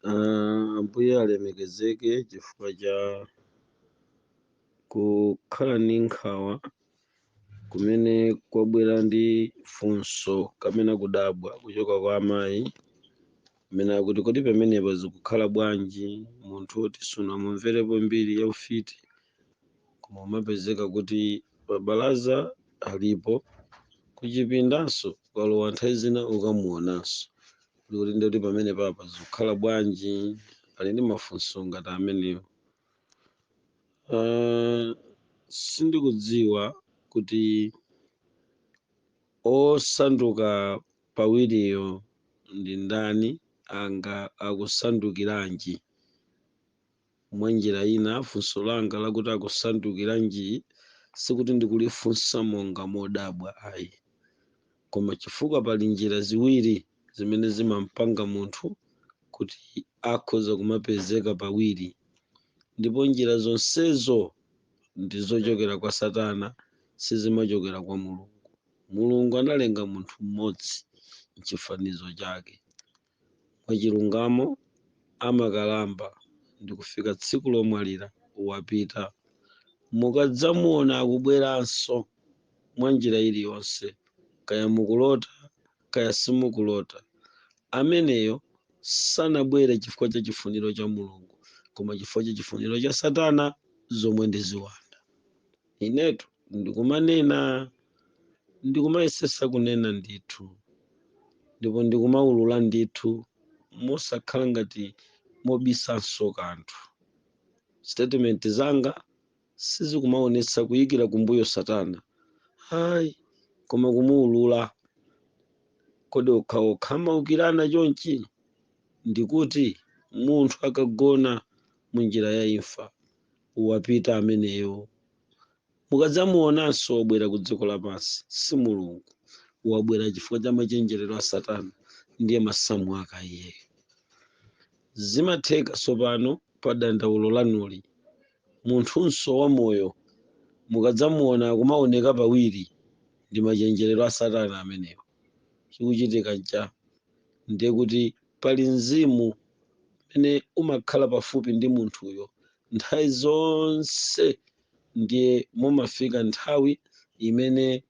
Ah, Ambuye alemekezeke chifukwa cha kukhala ndi nkhawa kumene kwabwera ndi funso kapena kudabwa kuchoka kwa amayi amene akuti kodi pamenepa zikukhala bwanji munthu woti sunamumverepo mbiri ya ufiti koma umapezeka kuti pabalaza alipo kuchipindanso ukalowa nthawi zina ukamuonanso kuti ndikuti pamenepa pa zikukhala bwanji ali ndi mafunso ngati amenewo Ah, sindikudziwa kuti osanduka pawiriyo ndi ndani nanga akusandukiranji Mwanjira ina, funso langa lakuti akusandukiranji sikuti ndikulifunsa monga modabwa ayi, koma chifukwa pali njira ziwiri zimene zimampanga munthu kuti akhoza kumapezeka pawiri, ndipo njira zonsezo ndi zochokera kwa satana sizimachokera kwa Mulungu. Mulungu analenga munthu mmodzi mchifanizo chake. mwachilungamo amakalamba ndikufika tsiku lomwalira wapita. Mukadzamuona akubweranso mwa njira iliyonse, kaya mukulota kaya simukulota, ameneyo sanabwere chifukwa cha chifuniro cha Mulungu koma chifukwa cha chifuniro cha Satana zomwe ndi ziwanda. Inetu ndikumanena, ndikumayesesa kunena ndithu, ndipo ndikumaulula ndithu mosakhala ngati mobisanso kanthu. Statement zanga sizikumaonetsa kuyikira kumbuyo satana ayi koma kumuulula. Kodi okhaokha amaukirana chonchi? Ndikuti munthu akagona munjira ya imfa wapita ameneyo. Mukadzamuonanso wabwera ku dziko lapansi, si Mulungu. Wabwera chifukwa cha machenjerero a Satana, ndiye masamu ake iyeyo. Zimatheka tsopano pa dandaulo lanuli. Munthunso wamoyo mukadzamuona akumaoneka pawiri, ndi machenjerero a Satana amenewo. chikuchitika nchani ndiye kuti pali mzimu umene umakhala pafupi ndi munthuyo nthawi zonse ndiye mumafika nthawi imene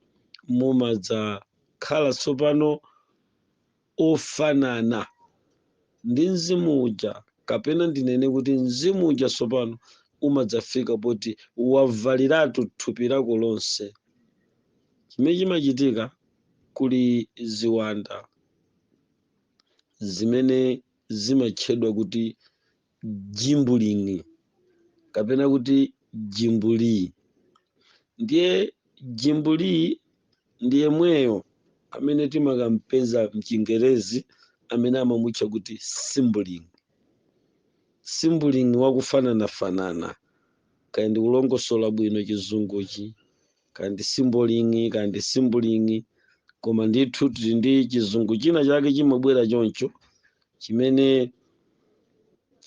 mumadzakhala tsopano ofanana ndi mzimu uja kapena ndinene kuti mzimu uja tsopano umadzafika poti wavaliratu thupi lako lonse chimene chimachitika Kuli ziwanda zimene zimatchedwa kuti jimbuling'i kapena kuti jimbuli. Ndiye jimbuli ndi yemweyo amene timakam'peza m'Chingerezi amene amamutcha kuti simbuling'i. Simbuling'i wakufananafanana, kaya ndikulongosola bwino chizunguchi? kaya ndi simboling'i kaya ndi simbuling'i koma ndithu tili ndi chizungu china chake chimabwera choncho chimene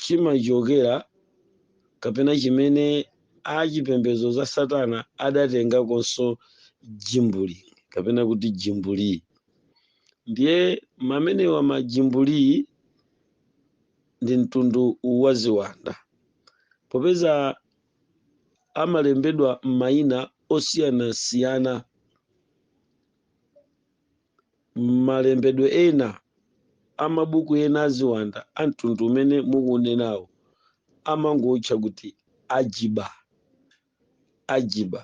chimachokera kapena chimene achipembedzo za satana adatengakonso jimbuling'i kapena kuti jimbuli ndiye amenewa majimbuli ndi mtundu wa ziwanda popeza amalembedwa m'mayina osiyanasiyana m'malembedwe ena a mabuku ena, aziwanda a mtundu umene mukuunenawo, amangoutcha kuti Ajiba. Ajiba.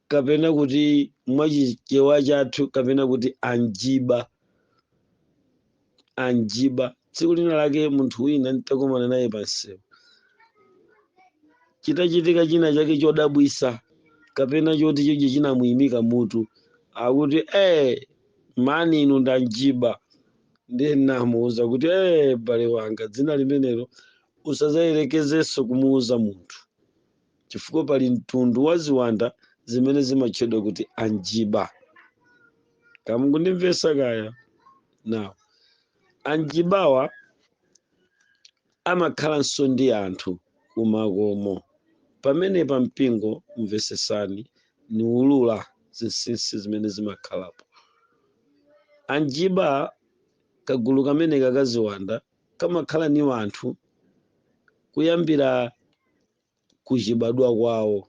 kapena kuti mwa chichewa chathu kapena kuti anjiba anjiba tsiku lina lake munthu wina nditakomana naye pansewu chitachitika china chake chodabwitsa kapena choti choche chinamuyimika mutu akuti eh mani inu ndanjiba ndiye nnamuuza kuti eh m'bale wanga dzina limenelo usadzayerekezenso kumuuza munthu chifukwa pali mtundu wa ziwanda zimene zimatchedwa kuti anjiba kaya mukundimvetsa kaya nawo anjibawa amakhalanso ndi anthu kumakomo pamenepa mpingo mvetsetsani niulula zinsinsi zimene zimakhalapo anjiba kagulu kameneka kaziwanda kamakhala ni wanthu kuyambira kuchibadwa kwawo.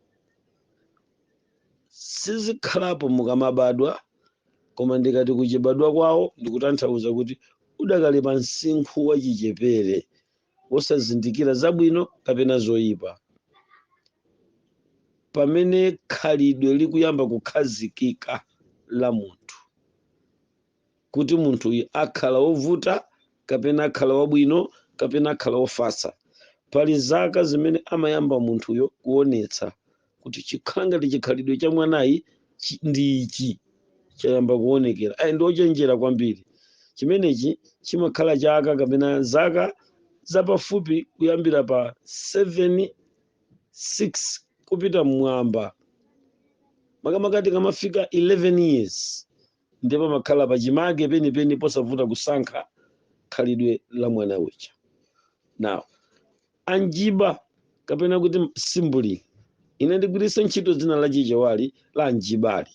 Sizikhalapo mukamabadwa, koma ndikati kuchibadwa kwawo ndikutanthauza kuti udakali pa msinkhu wachichepere wosazindikira zabwino kapena zoipa. Pamene khalidwe likuyamba kukhazikika la munthu, kuti munthuyu akhala wovuta kapena akhala wabwino kapena akhala wofatsa pali zaka zimene amayamba munthuyo kuonetsa kuti chikhala ngati chikhalidwe cha mwanayi ndi ichi chayamba kuonekera ayi ndi ochenjera kwambiri chimenechi chimakhala chaka kapena zaka zapafupi kuyambira pa 7 6 kupita mmwamba makamaka tikamafika 11 years ndiye pamakhala pachimake penipeni posavuta kusankha khalidwe la mwana uja now anjiba kapena kuti simbuli ine ndigwiritsa ntchito dzina la chichewali la anjibali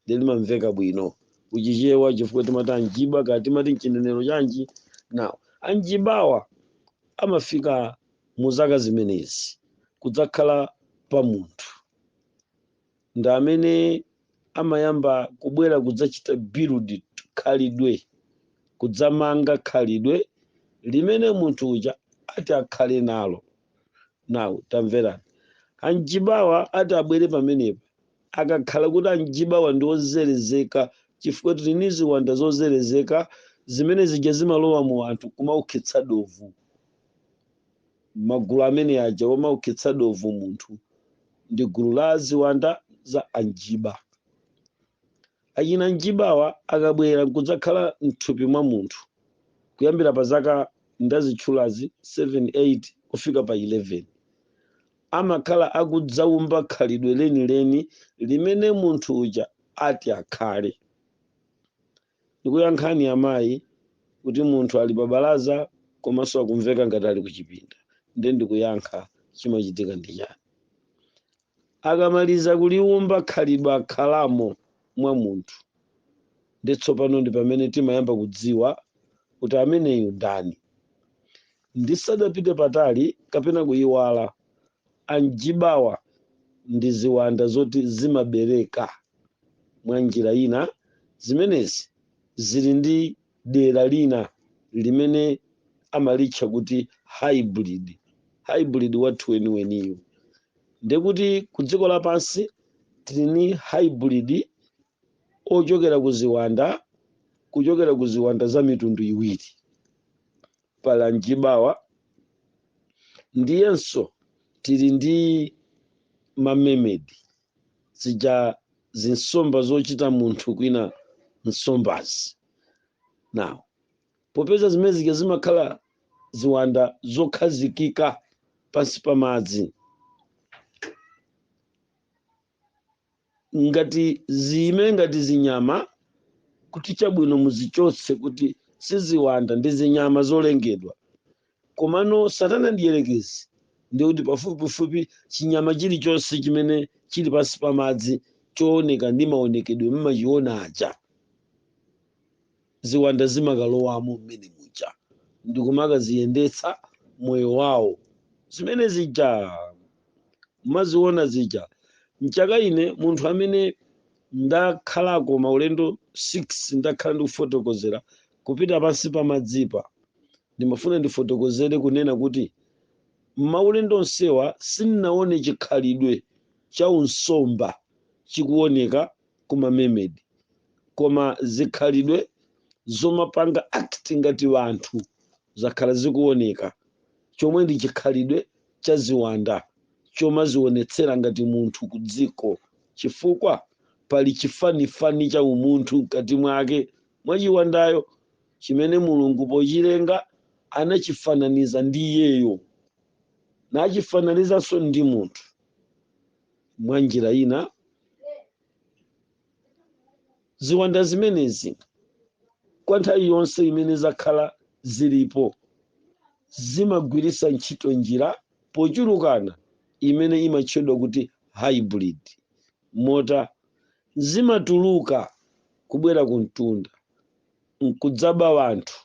ndiye limamveka bwino kuchichewa chifukwa timati anjiba kaya timati mchinenero chanji now anjibawa amafika mu zaka zimenezi kudzakhala pa munthu ndi amene amayamba kubwera kudzachita build khalidwe, kudzamanga khalidwe limene munthu uja ati akhale nalo. Now tamverani, anjibawa ati abwere pamenepa akakhala kuti anjibawa ndi ozerezeka chifukwa tili ndi ziwanda zozerezeka zimene zija zimalowa mu anthu kumaukhetsa dovu Magulu amene aja womaukhetsa dovu munthu ndi gulu la ziwanda za anjiba. Achina njibawa akabwera nkudzakhala mthupi mwa munthu kuyambira pa zaka ndazitchulazi 7, 8 kufika pa 11 amakhala akudzaumba khalidwe lenileni limene munthu uja ati akhale. Ndikuyankhani amayi kuti munthu ali pa balaza komanso akumveka ngati ali kuchipinda nde ndikuyankha chimachitika ndi chani? Akamaliza kuliumba khalidwe akhalamo mwa munthu nde tsopano ndi pamene timayamba kudziwa kuti ameneyu ndani. Ndisadapite patali kapena kuyiwala Anjibawa ndi ziwanda zoti zimabereka. Mwa njira ina, zimenezi zili ndi dera lina limene amalitcha kuti hybrid, hybrid wathu weniweniyu. Ndiye kuti kudziko lapansi tili ndi hybrid ochokera ku ziwanda kuchokera ku ziwanda za mitundu iwiri pali anjibawa ndiyenso tili ndi mamemedi zija zinsomba zochita munthu kwina nsombazi now popeza zimene zija zimakhala ziwanda zokhazikika pansi pa madzi ngati ziime ngati zinyama kuti chabwino muzichotse kuti siziwanda ndi zinyama zolengedwa komano satana mdierekezi ndi kuti pafupifupi chinyama chilichonse chimene chili pansi pa madzi chooneka ndi maonekedwe mumachiona aja Ziwanda zimakalowamo mmene muja ndikumakaziyendetsa moyo wawo. Zimene zija mmaziwona zija. Nchaka ine munthu amene ndakhalako maulendo 6 ndakhala ndikufotokozera kupita pansi pa madzipa, ndimafuna ndifotokozere kunena kuti maulendo onsewa sindinawone chikhalidwe cha unsomba chikuwoneka kuma mermaid koma zikhalidwe zomapanga act ngati wanthu zakhala zikuoneka chomwe ndi chikhalidwe cha ziwanda chomazionetsera ngati munthu ku dziko chifukwa pali chifanifani cha umunthu mkati mwake mwa chiwandayo chimene mulungu pochilenga anachifananiza ndi iyeyo nachifananizanso ndi munthu mwa njira ina ziwanda zimenezi kwa nthawi yonse imene zakhala zilipo zimagwiritsa ntchito njira pochulukana imene imatchedwa kuti hybrid moti zimatuluka kubwera ku mtunda nkudzaba wanthu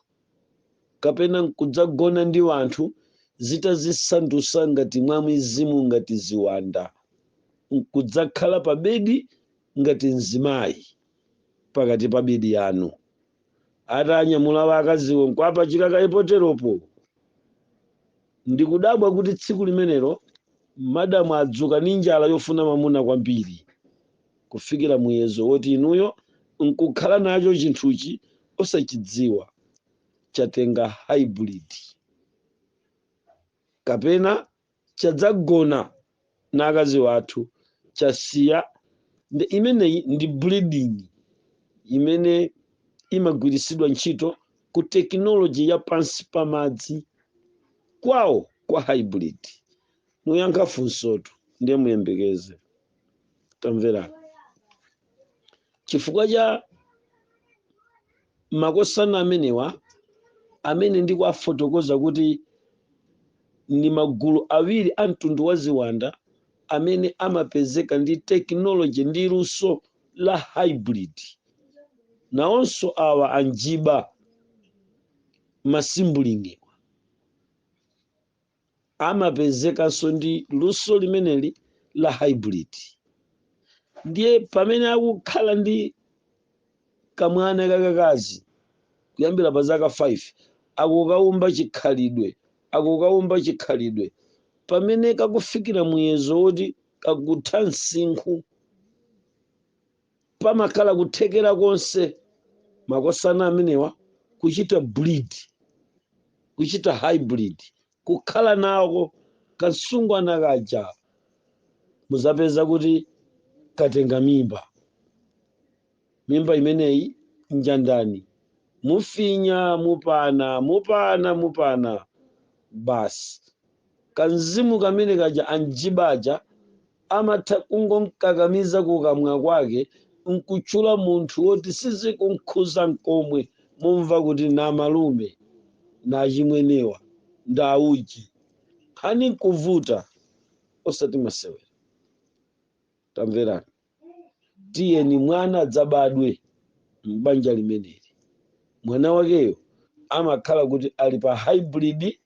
kapena nkudzagona ndi wanthu zitazisandusa ngati mwa mizimu ngati ziwanda nkudzakhala pa bedi ngati mzimayi pakati pa bedi yanu atanyamula akaziwo nkuapachika kaye poteropo ndikudabwa kuti tsiku limenelo madamu adzuka ndi njala yofuna mamuna kwambiri kufikira muyezo woti inuyo nkukhala nacho chinthuchi osachidziwa, chatenga haibridi, kapena chadzagona na akazi wathu, chasiya. Imeneyi ndi breeding imene imagwiritsidwa ntchito ku tekinoloji ya pansi pa madzi kwawo kwa haibridi. Niyankha funsotu ndiye muyembekeze. tamverani chifukwa cha makosana amenewa amene ndikuwafotokoza kuti ndi magulu awiri a mtundu wa ziwanda amene amapezeka ndi tekinoloji ndi luso la hybrid nawonso awa anjiba ma sibling-wa amapezekanso ndi luso limeneli la hybrid ndiye pamene akukhala ndi kamwana kakakazi kuyambira pa zaka 5 akukaumba chikhalidwe akukaumba chikhalidwe pamene kakufika muyezo woti kakutha msinkhu pamakhala kuthekera konse makosana amenewa kuchita breed kuchita hybrid kukhala nako kasungwana kaja muzapeza kuti katenga mimba mimba imeneyi njandani mufinya mupana mupana mupana basi kanzimu kamene kaja anjibaja Amatha kungomkakamiza kukamwa kwake nkutchula munthu woti sizikumkhudza nkomwe mumva kuti namalume, nachimwenewa, ndauji. Nkhani nkuvuta osati masewera. Tamverani, tiyeni mwana adzabadwe m'banja limeneli. mwana wakeyo amakhala kuti ali pa hybrid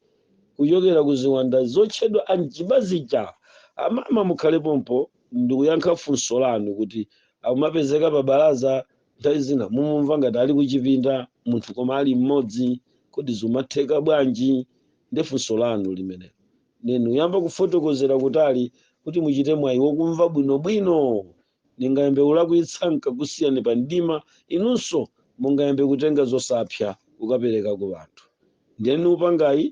kuchokera ku ziwanda zotchedwa anjiba zija. Amama mukhale pompo ndikuyankha funso lanu kuti amapezeka pa balaza nthawi zina mumumva ngati ali kuchipinda munthu koma ali mmodzi kodi zimatheka bwanji? Ndi funso lanu limenelo nde niyamba kufotokozera kutali kuti muchite mwayi wokumva bwinobwino. Ningayambe kulakwitsa n'kakusiyani pa mdima, inunso mungayambe kutenga zosapsa kukapereka ku anthu. Ndiye nikupangani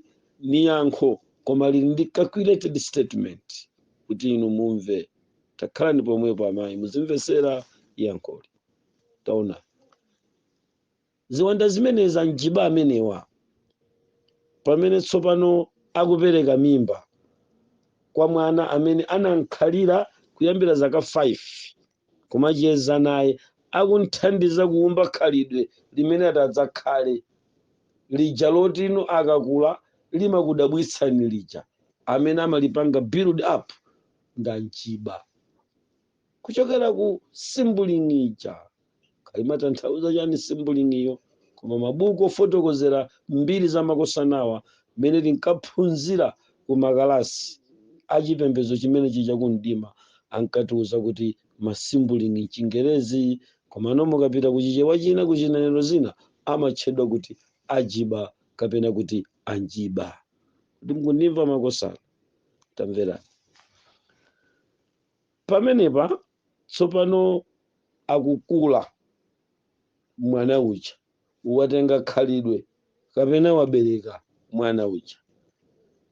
niyankha koma lili ndi calculated statement kuti inu mumve. Takhalani pomwepo amayi muzimvesera yankholi. Taonani. Ziwanda zimenezi, anjiba amenewa, pamene tsopano akupereka mimba kwa mwana amene anamkhalira kuyambira zaka 5, kumacheza naye, akumthandiza kuumba khalidwe limene atadzakhale, lija loti inu akakula limakudabwitsani lija, amene amalipanga build up ndi anjiba. kuchokera ku simbuling'i ija. Kaya imatanthauza chani simbuling'iyo, koma mabuku ofotokozera mbiri za makosanawa mmene tinkaphunzira ku makalasi a chipembedzo chimene chija ku mdima ankatiuza kuti masimbuling'i m'Chingerezi, komano mukapita ku Chichewa china ku chinenero china amatchedwa kuti ajiba kapena kuti anjiba. Kodi mukundimva makosana? Tamverani. Pamenepa tsopano akukula mwana uja, watenga khalidwe kapena wabereka mwana uja.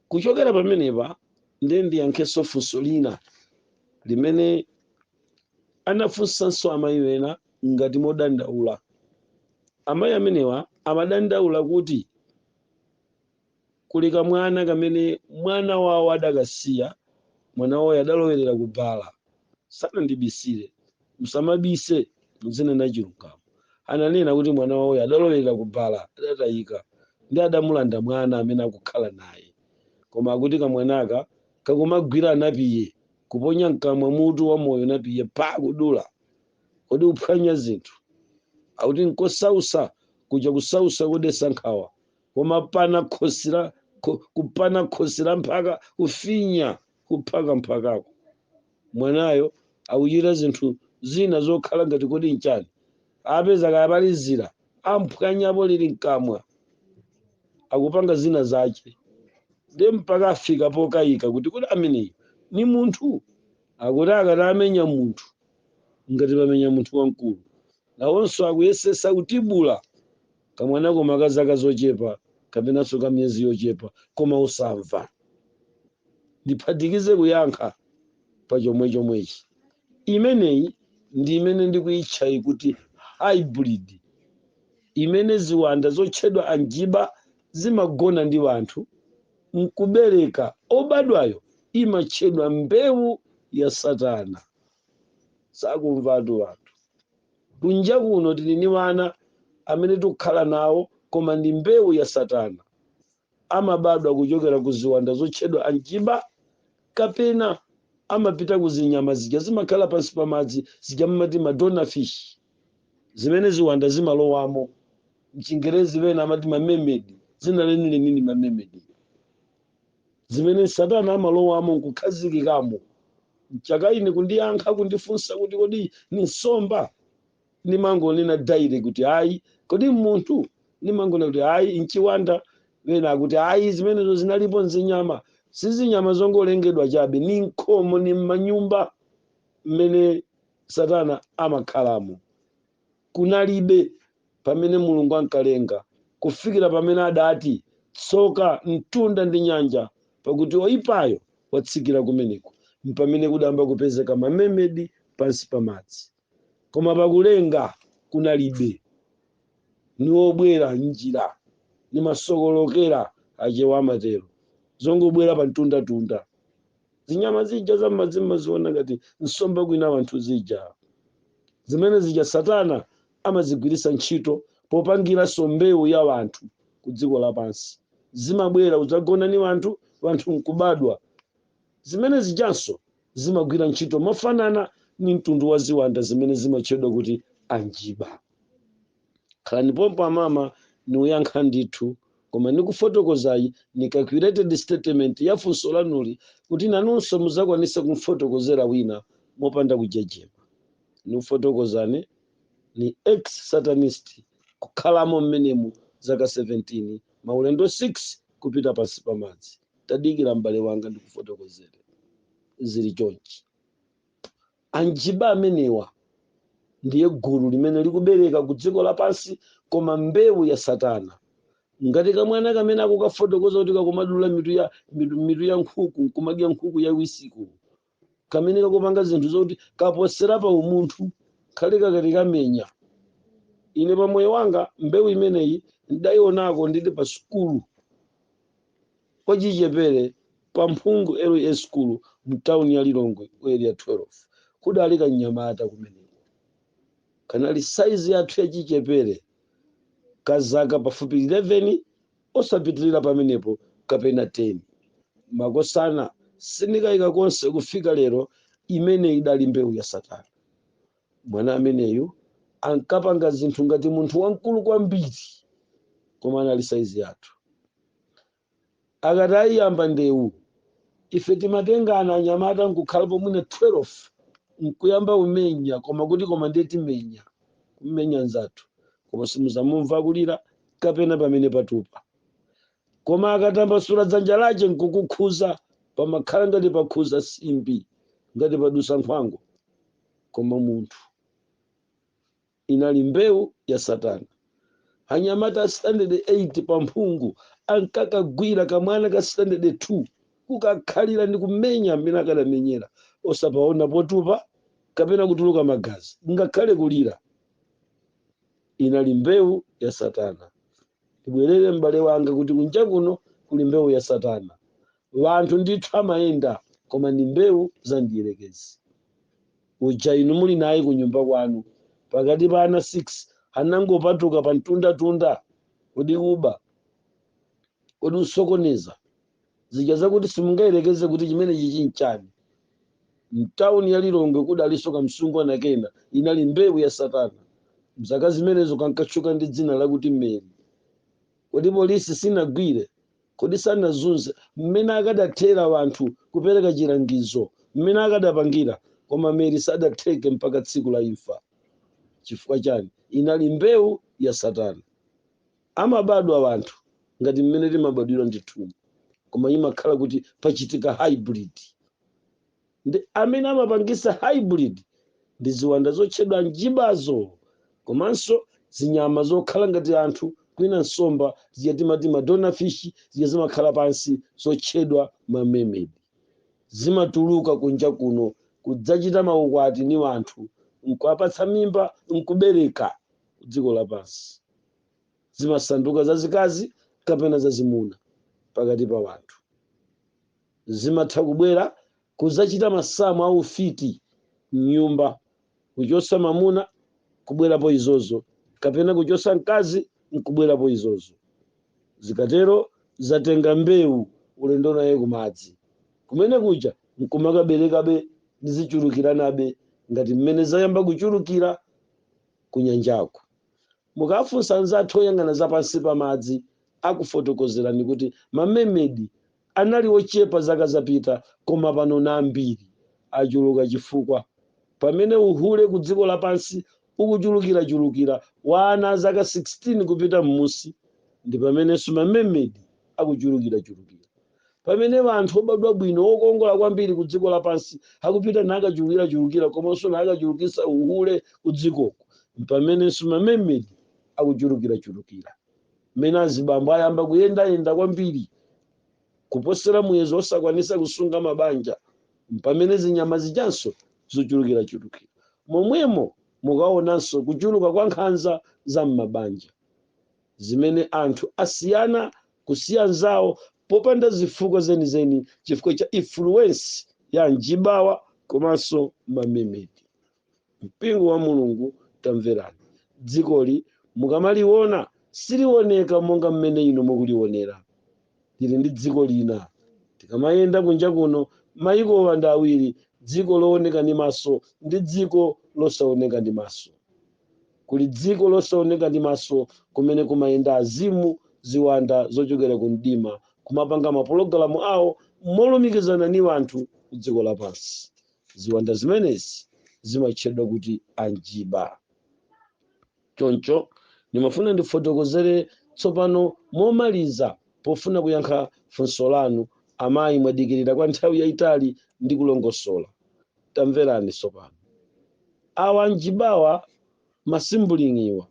Kuchokera pamenepa ndiye ndiyankhenso funso lina limene anafunsanso amayi ena ngati modandaula. Amayi amenewa amadandaula kuti Kuli kamwana kamene mwana wawo adakasiya, mwana wawoyo adalowerera ku bala. Sanandibisire. Musamabise, mudzinena chilungamo. Ananena kuti mwana wawoyo adalowerera ku bala, adatayika, nde adamulanda mwana amene akukhala naye. Koma akuti kamwanaka kakumagwira anapiye, kuponya mkamwa mutu wa moyo napiye pha! Kudula! Kodi kuphwanya zinthu? Akuti nkosausa, kuja kusausa kodetsa nkhawa. koma kupana khosi la kupana khosi la mphaka kufinya kuphaka mphakako mwanayo akuchita zinthu zina zokhala ngati kodi nchani apeza kaya pali dzira amphwanyapo lili mkamwa akupanga zina zace nde mpaka afika pokayika kuti kodi ameneyo ni munthu akuti akati amenya munthu ngati pamenya munthu wamkulu nawonso akuyesesa kutibula Kamwana koma ka zaka zochepa kapenanso ka miyezi yochepa koma osamva. Ndiphatikize kuyankha pa chomwechomwechi. Imeneyi ndi imene ndikuitchayi kuti hybrid imene ziwanda zotchedwa anjiba zimagona ndi wanthu n'kubereka. Obadwayo imatchedwa mbewu ya Satana. sakumvatu wanthu. Kunja kuno tili ni wana amene tikukhala nawo koma ndi mbewu ya satana. Amabadwa kuchokera ku ziwanda zotchedwa anjiba kapena amapita ku zinyama zija zimakhala pansi pa madzi zija amati madona fish zimene ziwanda zimalowamo. M'chingerezi pena amati ma mermaid, dzina lenileni ndi ma mermaid. zimene Satana amalowamo n'kukhazikikamo. Mchaka ine kundiyankha kundifunsa kuti kodi ni nsomba? Nimangonena dale kuti ayi. Kodi m'munthu? Nimangonena kuti ayi, n'chiwanda. Wena akuti ayi, zimenezo zinalipo n'zinyama. Si zinyama zongolengedwa chabe, ni nkhomo, ni m'manyumba mmene Satana amakhalamo. kunalibe pamene Mulungu ankalenga, kufikira pamene adati, Tsoka mtunda ndi nyanja, pakuti oipayo watsikira kumeneko, mpamene kudayamba kupezeka ma mermaid pansi pa madzi. Koma pakulenga kunalibe. Ni wobwera m'njira, ni masokolokera, Achewa amatero. Zongobwera pamtundatunda. zinyama zija zammadzi mumaziona ngati nsomba kwina wanthu zija zimene zija satana amazigwiritsa ntchito popangiranso mbewu ya wanthu ku dziko lapansi zimabwera kudzagona ni wanthu wanthu nkubadwa zimene zijanso zimagwira ntchito mofanana ni mtundu wa ziwanda zimene zimatchedwa kuti anjiba Khalani pompo amama, niuyankha ndithu. Koma nikufotokozai ni calculated statement ya funso lanuli kuti nanunso muzakwanise kumfotokozera wina mopanda kujejema. Nikufotokozane ni ex Satanist kukhalamo m'menemu zaka 17, maulendo 6 kupita pansi pa madzi. Tadikira m'bale wanga ndikufotokozere. Zili chonchi. Anjiba amenewa ndiye gulu limene likubereka ku dziko lapansi koma mbewu ya Satana. Ngati kamwana kamene akukafotokoza kuti kakumadula mitu ya mitu mitu ya nkhuku kumadya nkhuku yaiwisiko, kamene kakupanga zinthu zoti kaposera pa umunthu, khale kakati kamenya. Ine pa moyo wanga mbewu imeneyi ndaionako ndili pa sukulu. wachichepere pa Mphungu LEA sukulu m'tauni ya Lilongwe Area 12. Kudali kamnyamata kumeneko. Kanali saizi yathu yachichepere ka zaka pafupi 11 osapitirira pamenepo kapena 10. Makosana sindikayika konse kufika lero imene idali mbewu ya Satana. Mwana ameneyu ankapanga zinthu ngati munthu wamkulu kwambiri koma anali saizi yathu. Akati ayiyamba ndewu, ife timatengana anyamata n'kukhalapo mwina 12 n'kuyamba umenya koma kuti koma ndiye timenya, kumenya mnzathu. Koma simudzamumva kulira kapena pamene patupa. Koma akatambasula dzanja lace nkukukhuza, pamakhala ngati pakhuza nsimbi, ngati padusa nkhwangwa. Koma munthu. Inali mbewu ya Satana. Anyamata a standard 8 pa mphungu ankakagwira kamwana ka standard 2, kukakhalira ndi kumenya m'mene akadamenyera, osapaona potupa kapena kutuluka magazi, ngakhale kulira. Inali mbewu ya Satana. ndibwerere m'bale wanga kuti kunja kuno kuli mbewu ya satana wanthu ndithu amayenda koma ndi mbewu za mdierekezi uja inu muli naye ku nyumba kwanu pakati pa ana 6 anangopatuka pa mtundatunda kodi kuba kodi kusokoneza zija zakuti simungayerekeze kuti chimenechichi nchani. Mtauni ya Lilongwe kudalinso kamsungwana kena, inali mbewu ya Satana. Mzaka zimenezo kankatchuka ndi dzina lakuti Mary. Kodi polisi sinagwire? Kodi sanazunze? Mmene akadathera anthu kupereka chilangizo, mmene akadapangira, koma Mary sadatheke mpaka tsiku la imfa. Chifukwa chani? Inali mbewu ya Satana. amabadwa wanthu ngati mmene timabadwira ndithu koma imakhala kuti pachitika hybrid ndi amene amapangisa hybrid ndi ziwanda zotchedwa njibazo komanso zinyama zokhala ngati anthu kwina nsomba zija timati madona fish zija zimakhala pansi zotchedwa mamemedi zimatuluka kunja kuno kudzachita maukwati ni wanthu nkuwapatsa mimba nkubereka dziko lapansi zimasanduka zazikazi kapena zazimuna pakati pa wanthu zimatha kubwera kuzachita masamu aufiti mnyumba kuchosa mamuna kubwerapo izozo kapena kuchosa mkazi nkubwerapo izozo zikatero zatenga mbewu ulendo naye kumadzi kumene kuja nkumakaberekabe ndizichulukiranabe ngati mmene zayamba kuchulukira kunyanjako Mukafunsa anzathu oyang'ana za pansi pa madzi akufotokozerani kuti mamemedi anali ochepa zaka zapita koma panono ambiri achuluka chifukwa pamene uhule ku dziko lapansi ukuchulukirachulukira wa ana a zaka 16 kupita mmusi ndipamenenso mamemedi akuchulukirachulukira. pamene anthu obadwa bwino okongola kwambiri ku dziko lapansi akupita nakachulukirachulukira komanso nakachulukisa uhule ku dzikoku mpamenenso mamemedi akuchulukirachulukira mmene azibambo ayamba kuyendayenda kwambiri kuposera muyezo osakwanisa kusunga mabanja mpamene zinyama zijanso zachulukirachulukira momwemo mukaonanso kuchuluka kwa nkhanza za m'mabanja zimene anthu asiyana kusiya anzawo popanda zifukwa zenizeni chifukwa cha influence ya anjibawa komanso mamemedi. Mpingo wa Mulungu tamverani, dzikoli mukamaliona silioneka monga mmene inu mukulionera. Lili ndi dziko lina. Tikamayenda kunja kuno, mayikowa ndi awiri, dziko looneka ndi maso ndi dziko losaoneka ndi maso. Kuli dziko losaoneka ndi maso kumene kumayenda azimu, ziwanda zocokela ku mdima, kumapanga mapologalamu ao molumikizana ni wanthu ku dziko lapansi. Ziwanda zimenezi zimatchedwa kuti anjiba. Conco, nimafuna ndifotokozele tsopano momaliza pofuna kuyankha funso lanu. Amai, mwadikilila kwa nthawi yaitali ndikulongosola. Tamverani tsopano. Awa anjibawa, masimbulingiwa,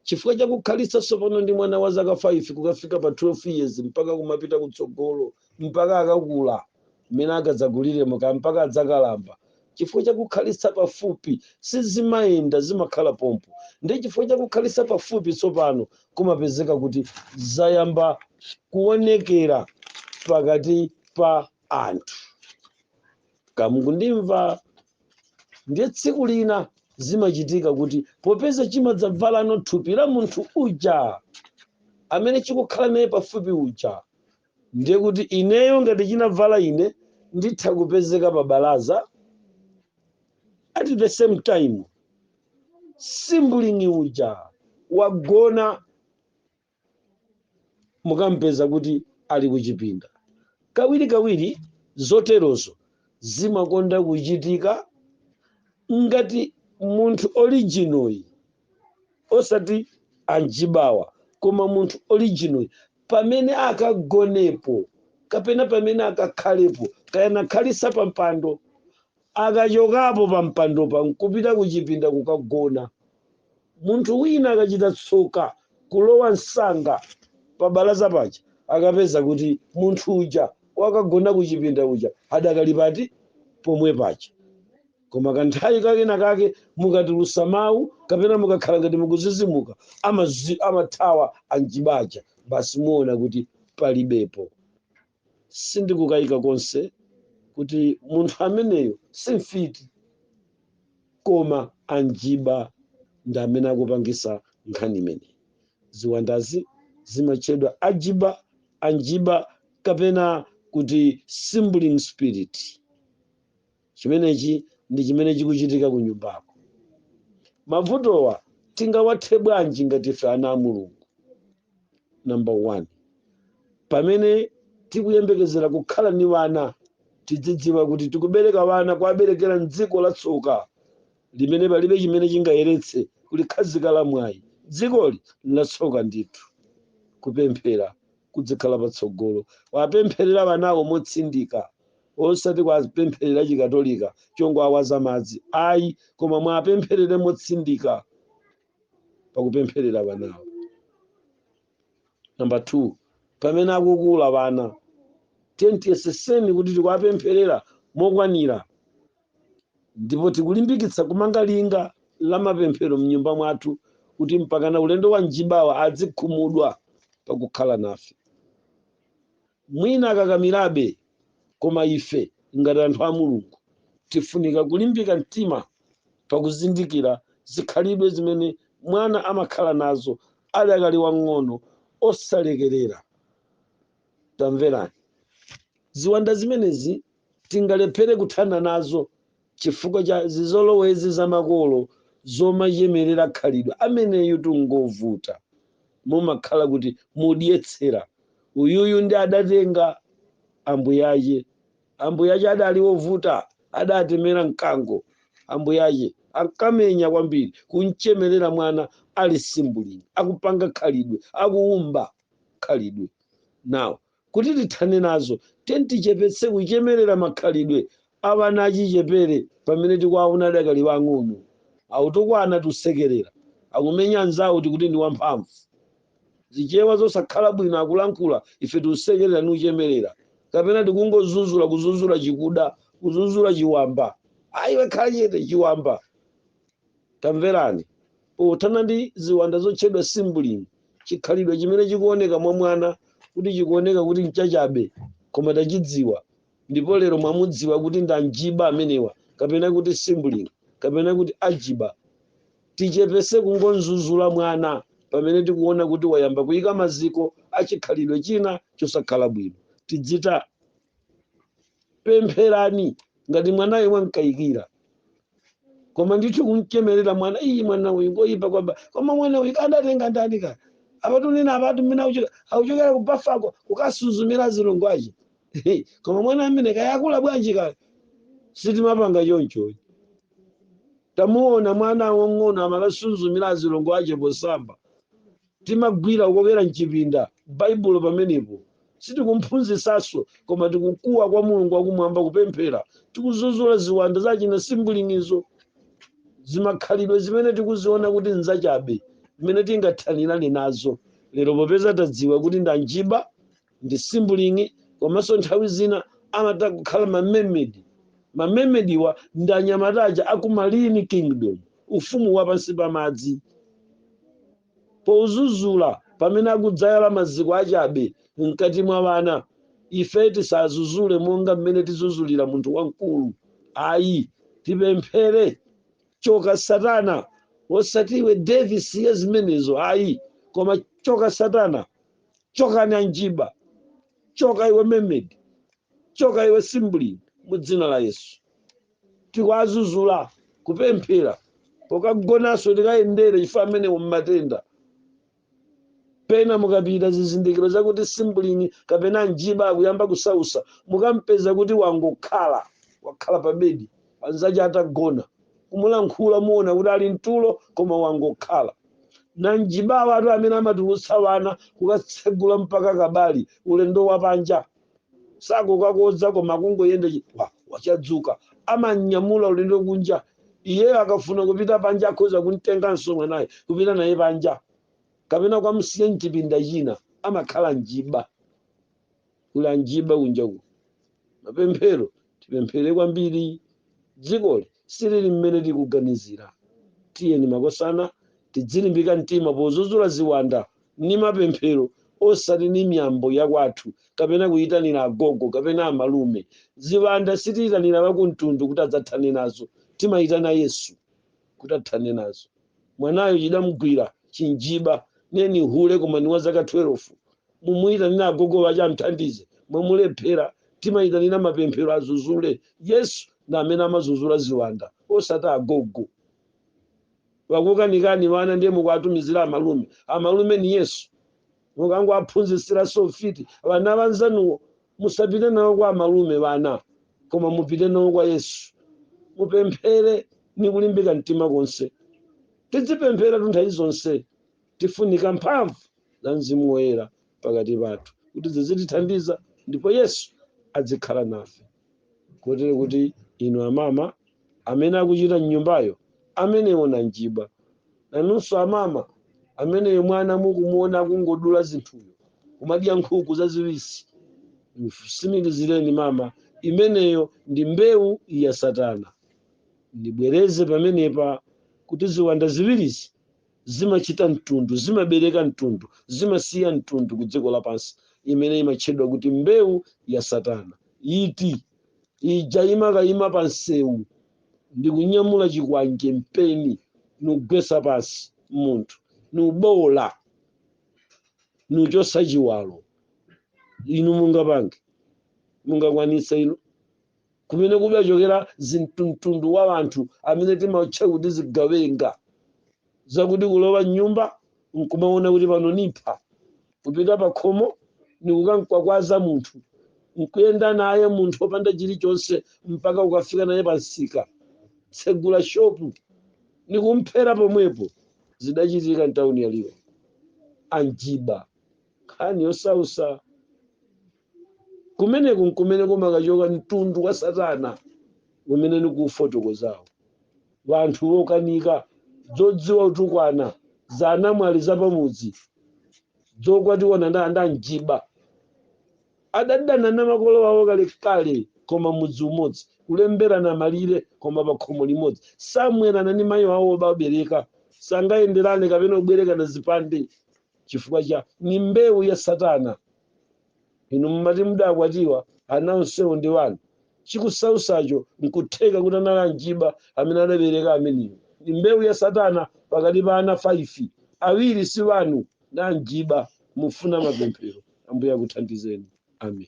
chifukwa cha kukhalitsa tsopano ndi mwana wa zaka 5 kukafika pa 12 years mpaka kumapita kutsogolo, mpaka akakula, mmene akadzakuliremo, kaya mpaka adzakalamba, chifukwa cha kukhalitsa pafupi, sizimayenda, zimakhala pompo. Ndiye chifukwa cha kukhalitsa pafupi tsopano, kumapezeka kuti zayamba kuonekera pakati pa anthu. kaya mukundimva ndiye tsiku lina zimachitika kuti popeza chimadzabvalano thupi la munthu uja amene chikukhala naye pafupi uja ndiye kuti ineyo ngati chinabvala ine nditha kupezeka pa balaza at the same time simbulingi uja wagona mukampeza kuti ali kuchipinda. Kawirikawiri zoterozo zimakonda kuchitika ngati munthu original, osati anjibawa, koma munthu original pamene akagonepo kapena pamene akakhalepo kaya nakhalisa pampando Akachokapo pampandopa n'kupita kuchipinda kukagona. Munthu wina akachita tsoka kulowa msanga pabalaza paja, akapeza kuti munthu uja wakagona kuchipinda uja adakali pati? Pomwe paja. Koma kanthawi kakena kake mukatulutsa mawu kapena mukakhala ngati mukudzidzimuka, amathawa anjiba aja, basi muona kuti palibepo. Sindikukayika konse kuti munthu ameneyo si mfiti koma anjiba ndi amene akupangisa nkhani imeneyi. Ziwandazi zimatchedwa ajiba, anjiba kapena kuti simbulingi spirit. Chimenechi ndi chimene chikuchitika ku nyumbako. Mavutowa tingawathe bwanji ngati ife ana a Mulungu? Number 1, pamene tikuyembekezera kukhala ni wana, tidzidziwa kuti tikubereka wana kuwaberekera m'dziko la tsoka limene palibe chimene chingayeretse kulikhazika la mwayi. Dzikoli n'latsoka ndithu. Kupemphera kudzikhala patsogolo wapempherera wanawo motsindika osati kwapempherera chikatolika chongowawaza madzi ayi koma mwapempherere motsindika pakupempherera wanawo namba 2 pamene akukula wana ten tiyeseseni kuti tikuwapempherera mokwanira Ndipo tikulimbikitsa kumanga linga la mapemphero m'nyumba mwathu kuti mpakana ulendo wa njibawa adzikhumudwa pakukhala nafe. Mwina akakamirabe, koma ife ngati anthu a Mulungu tifunika kulimbika mtima pakuzindikira zikhalidwe zimene mwana amakhala nazo adakali wang'ono osalekerera. Tamverani, ziwanda zimenezi Tingalephere kuthana nazo chifukwa cha zizolowezi za makolo zomachemerera khalidwe, ameneyutu ngovuta, mumakhala kuti mudyetsera, uyuyu nde adatenga ambuyache, ambuyache adali ovuta, adatemera mkango, ambuyache ankamenya kwambiri, kumchemerera mwana ali simbulini, akupanga khalidwe, akuumba khalidwe. Now Kuti tithane nazo, tiyeni tichepetse kuchemerera makhalidwe a wana achichepere pamene tikuwaona adakali aang'ono. Autukwana tusekerera, akumenya anzawo tikuti ndi wamphamvu. Zichewa zosakhala bwino akulankhula ife tusekerera nuchemerera. Kapena tikungozuzula, kuzuzula chikuda, kuzuzula chiwamba. A iwe khala chete, chiwamba! Tamverani! Pothana ndi ziwanda zotchedwa simbulini, chikhalidwe chimene chikuoneka mwa mwana kuti chikuoneka kuti nchachabe koma tachidziwa ndipo lero mwamudziwa kuti ndi anjiba amenewa kapena kuti simbulini kapena kuti ajiba. Tichepese kungonzuzula mwana pamene tikuona kuti wayamba kuika maziko a chikhalidwe china chosakhala bwino. Tidzita pempherani ngati mwanayo mwamkayikira koma ndithu kumchemerera mwana iyi mwana uyu ngoyipa kwamba koma mwana uyu kadatenga ndani ka apatu nina apatu mmene akuchokera akuchokera kubafako kukasuzumira azilongo ache koma mwana amene kayakula bwanji kale sitimapanga choncho tamuona mwana wang'ono amakasuzumira azilongo ache posamba Timagwira kukokera m'chipinda Baibulo pamenepo. Sitikumphunzitsanso, koma tikukuwa kwa Mulungu wa Kumwamba, kupemphera. Tikuzuzula ziwanda za achina simbulinizo, zimakhalidwe zimene tikuziona kuti nzachabe, m'mene tingathanirane nazo. Lero popeza tadziwa kuti ndi anjiba, ndi simbulini komanso nthawi zina amatha kukhala mamemedi mamemediwa ndi anyamata aja a ku marine kingdom ufumu wa pansi pa madzi pozuzula pamene akudzayala maziko achabe mkati mwa wana ife tisazuzule monga mmene tizuzulira munthu wamkulu ayi tipemphere choka satana osati iwe Davis ya zimenezo ayi koma choka satana chokani anjiba choka iwe memedi choka iwe simbulini mu dzina la yesu tikwazuzula kupemphera pokagonanso tikayendere chifukwa amenewo mmatenda pena mukapita zizindikiro zakuti simbulini kapena anjiba akuyamba kusausa mukampeza kuti wangokhala wakhala pa bedi anzace atagona, kumulankhula muona kuti ali mtulo koma wangokhala. Nanjibawatu amene amatulutsa wana kukatsegula mpaka kabali ulendo wapanja sakukakodza koma kungoyenda chi- wa- wachadzuka amanyamula ulendo kunja iyeyo akafuna kupita panja akhoza kumtenganso mwanayo kupita naye panja kapena kukamsiya mchipinda china amakhala njiba kuli anjiba kunjaku. Mapemphero, tipemphere kwambiri. Dzikoli silili mmene tikuganizira. Tiyeni makosana tidzilimbika mtima pozuzula ziwanda ni mapemphero osati ni miyambo ya kwathu kapena kuyitanira agogo kapena amalume. Ziwanda sitiyitanira wakumtundu kuti adzathane nazo. Timayitana Yesu kuti athane nazo. Mwanayo chidamgwira chinjiba, nde ni hule koma ni wa zaka 12. mumuitanira agogo wace amthandize, mwamulephera timaitanira mapemphero azuzule, Yesu ndi amene amazuzula ziwanda osati agogo. Wakukanikani wana ndiye mukuwatumizira amalume, amalume ni Yesu. Akangowaphunzitsiraso ufiti wana anzanuwo, musapite nawo kwa amalume wana koma mupite nawo kwa Yesu. Mupemphere ni kulimbika mtima konse. Tidzipempheratu nthawi zonse. Tifunika mphamvu za Mzimu Woyera pakati pathu kuti zizitithandiza ndipo Yesu adzikhala nafe. Kotero kuti inu amama amene akuchita mnyumbayo amenewo nanjiba. Nanunso amama ameneyo mwana mukumuona akungodula zinthuyo kumadya nkhuku zaziwisi. Tsimikizireni mama imeneyo ndi mbewu ya Satana. Ndibwereze pamenepa kuti ziwanda ziwirizi zimachita mtundu zimabereka mtundu zimasiya mtundu ku dziko lapansi imene imatchedwa kuti mbewu ya satana iti ija imakayima pa msewu ndikunyamula chikwanje mpeni nugwesa pansi munthu nuboola nuchosa chiwalo inu mungapange mungakwanitse inu kumene kudachokera mtundu wa anthu amene timautcha kuti zigawenga zakuti kulowa mnyumba nkumaona kuti pano nipha kupita pakhomo nikukamkwakwaza munthu nkuyenda naye munthu opanda chilichonse mpaka kukafika naye pansika tsegula shopu nikumphera pomwepo zidachitika mtauni yaliwa anjiba nkhani yosausa kumeneku nkumene kumakachoka mtundu wa satana umene nikufotokozawo vanthu vokanika dzodziwa utukwana za anamwali zapamudzi dzokwatiwana nda anjiba adadana na makolo wawo kalekale koma mudzi umodzi kulemberana malire koma pa khomo limodzi samwerana ni mayi wawo obabereka sangayenderane kapena kubwerekana zipande chifukwa cha ni mbewu ya satana inu mumati mudakwatiwa ana onsewo ndi wanu chikusausacho nkutheka kuti anali anjiba amene adabereka ameneyo ni mbewu ya satana pakati pa ana 5 awiri si wanu nda anjiba mufuna mapemphero ambuye akuthandizeni amen